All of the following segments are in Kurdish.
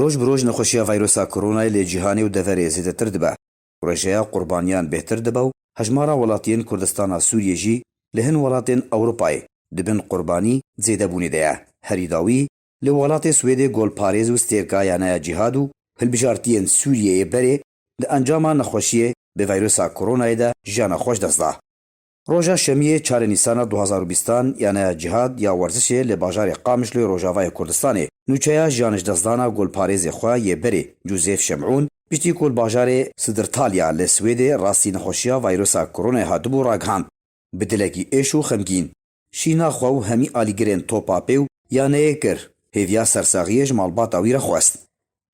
Roj bi roj nexweşiya vîrusa koronayê li cîhanê û deverê zêdetir dibe. Rêjeya qurbaniyan bêhtir dibe û hejmara welatiyên Kurdistana Sûriyê jî li hin welatên Ewropayê di bin qurbanî zêdebûnê de ye. Herî dawî li welatê Swêdê golparêz û stêrka ya Naya Cîhad û Hilbijartiyên Sûriyeyê berê di encama nexweşiyê bi vîrusa koronayê de jiyana xwe ji dest da. Roja Şemiyê çar ê Nîsana du hezar û bîst an Yaneya Cihad ya Werzişê li bajarê Qamişloyê Rojavayê Kurdistanê nûçeya jiyanijdezdana golparêzê xwe yê berê Cûzêf Şemûn piştî ku li bajarê Sidirtalya li Swêdê rastî nexweşiya vayrusa koronayê hatibû ragihand bi dilekî êş û xemgîn şîna xwe û hemî alîgirên topa pê û yaneyê kir hêviya sersaxiyê ji malbata wî re xwest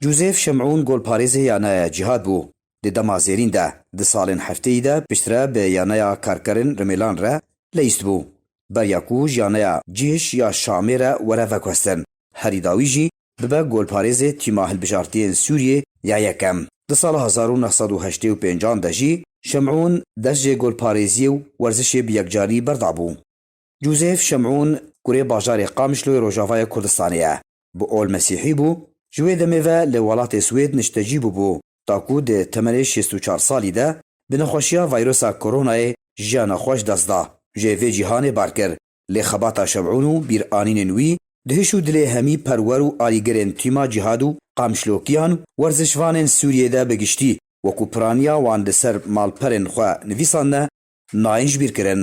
Joseph Şemûn golparêzê yaneya Cîhad bû. Di dema zêrîn de, di salên hefteyî de piştre bi yaneya Karkerên Rimêlan re leyîst bû. Beriya ku ji yaneya Cîhiş ya Şamê re were veguhestin, herî dawî jî bibe golparêzê Tîma Hilbijartiyên Sûriyê ya Yekem. Di sala hezar û neh sed û heştê û pênc an de jî Şemûn dest jê golparêziyê û werzişê bi yekcarî berdabû. Joseph Şemûn kurê bajarê Qamişloyê Rojavayê Kurdistanê ye. Bi ol mesîhî bû, ji wê demê ve li welatê Swêd niştecî bûbû ta ku di temenê şêst û çar salî de bi nexweşiya vîrusa koronayê jiyana xwe ji dest da. Jê vê cîhanê bar kir, lê xebata Şemûn û bîranînên wî di hiş û dilê hemî perwer û alîgirên tîma cîhad û qamişlokiyan û werzişvanên Sûriyê de bi giştî wekû piraniya wan li ser malperên xwe nivîsandne nayên jibîrkirin.